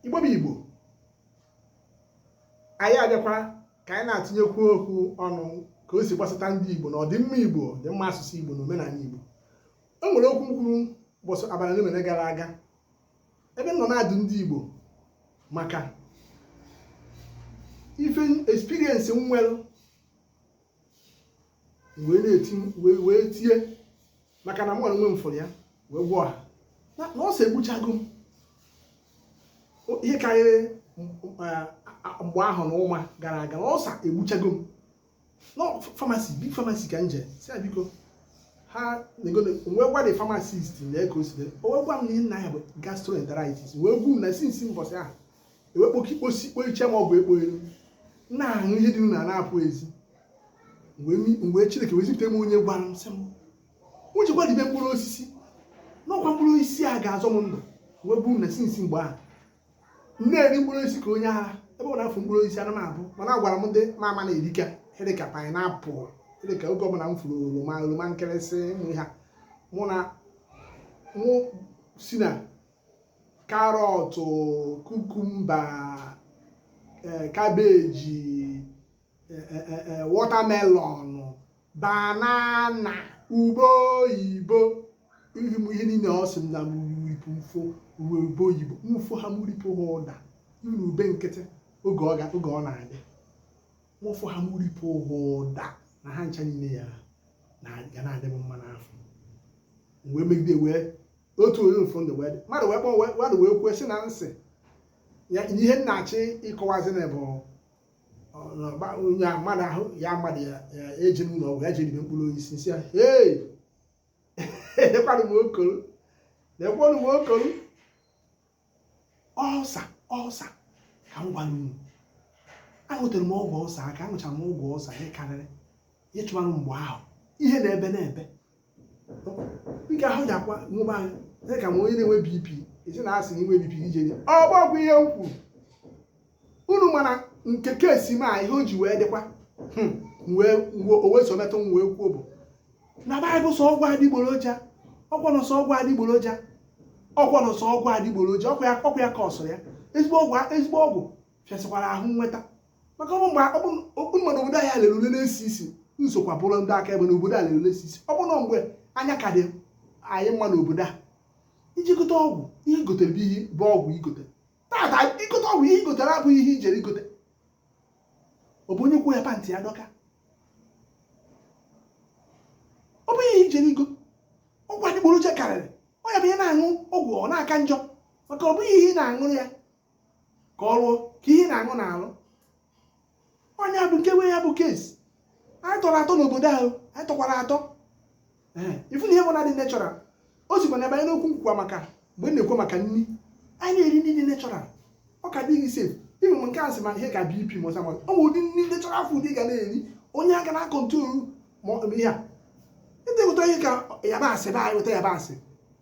igbo bụ igbo anyị abịakwa ka anyị na-atụnyekwu okwu ọnụ ka o si gbasata ndị igbo na ọdịmma igbo ọdịmma asụsụ igbo na omenala igbo e nwere okwu m kwuru ụbọchị abalị onemone gara aga ebe m nọ na-adụ ndị igbo maka ife experience m nwere wee na-eti wee tie maka na mụ onwe m fụrụ ya wee gwa ọha na ulcer egbuchago m ihe karịrị mgbe ahụ na ụma gara aga na ulcer egbuchago m na pharmacy big pharmacy ka m jee sị ya biko ha wee gwa the pharmacist na ego si wee gwa m na ihe m na-aya bụ gastroenteritis wee gwa unu na since mbọsị ahụ ewekpoka ikposi ikpo iche ma ọ bụ ekpo elu na-aṅụ ihe dị na na-apụ ezi mgbe chineke wee zipụta m onye gwara m sị m jekwa ribe mkpụrụ osisi na ọ kwa mkpụrụ osisi a ga-azọ m ndụ wee bụrụ na since mgbe ahụ na-eri mkpụrụ osisi ka onye ara ebe ọ na-afụ mkpụrụ osisi ana m abụ mana agwara m ndị ma ama na-erika ihe dịka pineapple dịka oge ọbụla m fụrụ oroma oroma nkịrịsị mụ ha mụ na mụ si na carrot cucumber cabbage watermelon banana ube oyibo ihe niile ọ sị na m ripụ m fụ ube ube oyibo m fụ ha m ripụ ha ụdara ube nkịtị oge ọ oge ọ na-adị m fụ ha m ripụ ha ụdara ha ncha niile ya ga na-adị m mma n'afọ wee megide wee otu onye ụfụ ndụ wee dị mmadụ wee kpọọ wee- mmadụ wee kwuo sị na m sị ya ihe m na-achọ ịkọwazị na bụ ọ, na ọgba- onye a mmadụ ahụ ya mmadụ ya ya ejena ụlọ ọgwụ ya jee ribe mkpụrụ osisi m sị ya hei ekwanụ m okoro na-ekwanụ m okoro ulcer ulcer ka m gwara unu aṅụtere m ọgwụ ulcer aka aṅụchara m ọgwụ ulcer ihe karịrị ihe chụbara mgbe ahụ ihe na-ebe na-ebe m ga-ahụ ji akwa nwụba anyị dị ka m onye na-enwe bp ezi na a sị na i nwee bp i jee ọgbọgwụ ihe m kwuru unu mana nke kasị m a ihe o ji wee dịkwa hmm, wee o wee so metụ m wee kwuo bụ na ebe a bụ sọ ọgwụ adịgboroja ọ kwanụ sọ ọgwụ adịgboroja ọ kwanụ sọ ọgwụ adịgboroja ọkwa ya ọkwa ya ka ọsọ ya ezigbo ọgwụ ezigbo ọgwụ fịasịkwara ahụ inweta maka ọ bụ mgbe ọ bụ mmadụ obodo anyị lere ule na-esi isi m sokwa bụrụ ndị akaebe na obodo a lere ule esi isi ọ bụ na mgbe anya ka dị anyị mma n'obodo a i jee gote ọgwụ ihe i gotere bụ ihe bụ ọgwụ i gote tata i gote ọgwụ ihe i gotere abụghị ihe i jere igote ọ bụ onye kwuo ya pantị ya dọka ọ bụghị ihe i jere igo ọgwụ adịgboroja karịrị ọ ya bụ ihe ị na-aṅụ ọgwụ ọ na-aka njọ maka ọ bụghị ihe ị na-aṅụrụ ya ka ọ rụọ ka ihe ị na-aṅụ na-arụ onye bụ nke wee ya bụ case anyị tọrọ atọ n'obodo ahụ anyị tọkwara atọ ị fụ na ihe ọbụna dị natural o sikwa na ebe anyị na-ekwu nkwukwa maka mgbe a na-ekwu maka nri anyị na-eri nri dị natural ọ ka dịghị sef even nke a sị ma ihe ka BP ma ulcer mmadụ ọ bụ ụdị nri natural food ị ga na-eri enye aka na control ma ihe a ịdịgụta ihe ka yabasị be anyị weta yabasị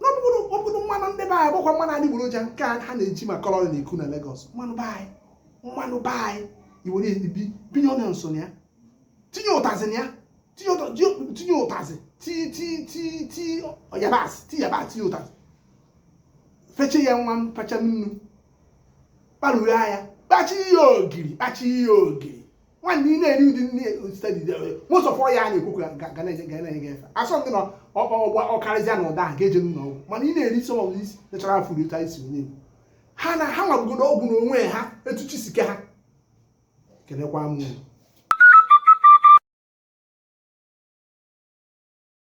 n'ọ bụrụ ọ bụrụ mmanụ ndị be anyị bụkwa mmanụ adịgboroja nke a ha na-eji ma colour na-eku na Lagos mmanụ be anyị mmanụ be anyị i were ebibinye onions na ya tinye ụtazị na ya tinye ụtazị ti yabasị ti yabasị tinye ụtazị feche ya nwa m fecha nnu kparuru ya kpachi ya ogiri kpachi ya ogiri nwanne ị na-eri ụdị nri a steady most of ihe a na-ekwu ga na-enye gị efe asọ ndị na ọ karịzịa na ụdị ahụ ga-eje n'ụlọ ọgwụ mana ị na-eri some of these natural food otu anyị si onye Igbo ha na ha nwa bụgodo ọgwụ n'onwe ha etu chi si kee ha ekelekwa m